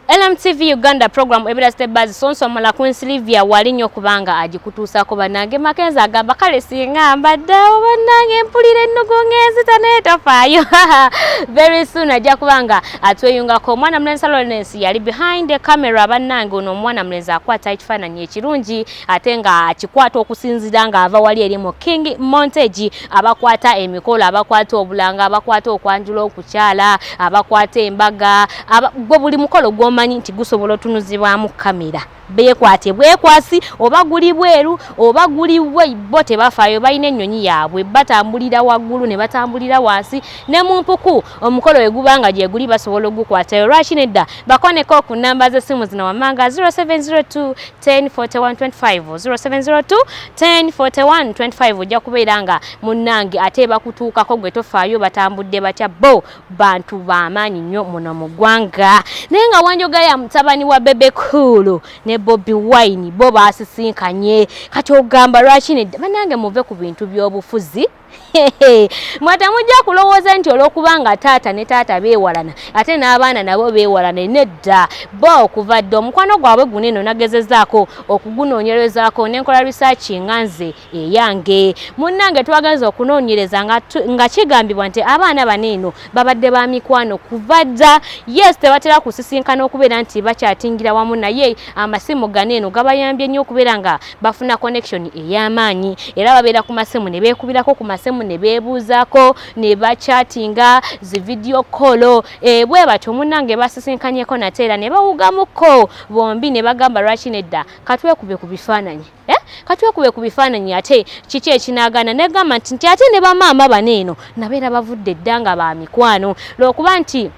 LMTV Uganda program ebira step by sonso mala Queen Sylvia wali nyo kubanga ajikutusa ko banange makenza agamba kale singa mbadde banange mpulire nugo ngezi taneta fayo very soon ajja kubanga atweyunga ko mwana mlensa Lawrence yali behind the camera banange ono mwana mlenza akwata ekifananyi ekirungi ate nga akikwata okusinzira nga ava wali eri mu king montage abakwata emikolo abakwata obulanga abakwata okwanjula okukyala abakwata embaga gwe buli mukolo gwomanyi nti gusobola otunuzibwamu kamera bekwate bwekwasi oba guli bweru oba guli bo tebafayo balina ennyonyi yaabwe batambulira waggulu ne batambulira wansi ne mu mpuku omukolo we guba nga gyeguli basobola ogukwatayo lwaki nedda bakoneko ku namba z'essimu zino wammanga 0702 1041250702104125 ojja kubeera nga munnange ate bakutuukako gwe tofaayo batambudde batya bo bantu bamaanyi nnyo muno mu ggwanga naye nga wanjoga ya mutabani wa bebe cool ne bobi wine bo baasisinkanye kati ogamba lwaki nedda banange muve ku bintu by'obufuzi mwe temujja kulowooza nti olwokubanga taata ne taata beewalana ate n'abaana nabo beewalana nedda bo okuva dda omukwano gwabwe guno eno nagezezaako okugunoonyerezaako nenkola risaaki nga nze eyange munnange twagenza okunoonyereza nga kigambibwa nti abaana bano eno babadde ba mikwano kuva dda yes tebatera kusisinkana okubeera nti bakyatingira wamu naye amasimu gano eno gabayambye nnyo okubeera nga bafuna connection ey'amaanyi era babeera ku masimu ne beekubirako ku masimu ne beebuuzaako ne bachatinga zi vidiyo kolo e, bwe batyo munnange basisinkanyeko nate era ne bawugamukko bombi ne bagamba lwaki nedda katwekube ku bifaananyi eh? katwekube ku bifaananyi ate kiki ekinaagaana negamba nti nti ate ne bamaama bano eno nabeera bavudde dda nga ba mikwano lwokuba nti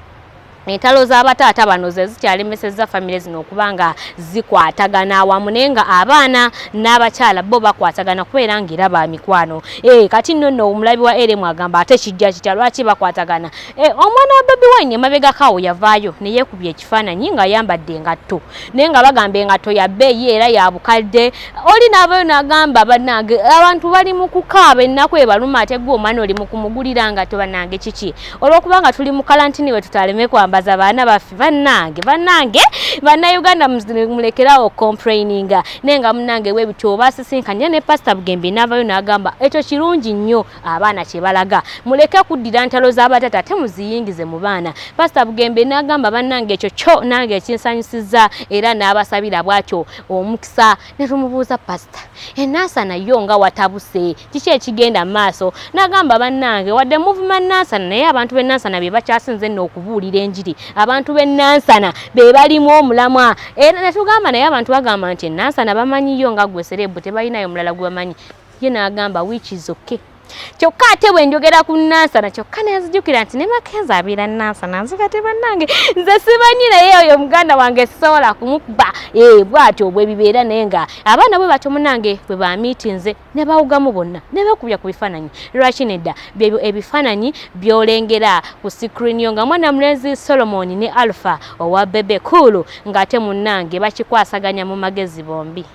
Entalo z'abataata bano ze zikyalemesezza famire zino okuba nga zikwatagana awamu naye nga abaana n'abakyala bo bakwatagana kubeera ng'era ba mikwano e, kati nno nno omulabi wa eremu agamba ate kijja kitya lwaki bakwatagana e, omwana wa bobi wine emabegakaawo yavaayo ne yeekubya ekifaananyi ng'ayambadde engatto naye nga bagamba engatto ya bbeeyi era ya bukadde oli n'avayo n'agamba bannange abantu bali mu kukaaba ennaku ebaluma ate gwe omwana oli mu kumugulira ngatto bannange kiki olwokuba nga tuli mu kalantini wetutaleme kwambaza baana baffe bannange bannange bannayuganda mulekerawo okompraininga naye nga munange webityo obasisinkanye ne pasita bugembe naavayo nagamba ekyo kirungi nnyo abaana kyebalaga muleke kuddira ntalo zabatata ate muziyingize mu baana pasita bugembe nagamba bannange ekyo kyo nange ekinsanyusiza era n'abasabira bwatyo omukisa ne tumubuuza pasita enaasana yo nga watabuse kiki ekigenda mu maaso n'agamba bannange wadde muvuma nansana naye abantu b'e nansana be bakyasinze nno okubuulira enjiri abantu b'e nansana be balimu omulamwa era ne tugamba naye abantu bagamba nti enansana bamanyiyo nga gwe sereebu tebalinayo mulala gwe bamanyi ye n'agamba wiiki zokke kyokka ate bwe njogera ku nansana kyokka nenzijukira nti ne makenzi abeera nansana nze kati bannange nze simanyi naye oyo muganda wange sisobola kumukuba ee eh, bwatyo bwe bibeera naye nga abaana bwe batyo munange bwe bamiiti nze ne bawugamu bonna ne beekubya ku bifaananyi lwaki nedda byebyo ebifaananyi byolengera ku sikrini yo nga mwana mulenzi solomoni ne alpha owa bebe kuulu ng'ate munnange bakikwasaganya mu magezi bombi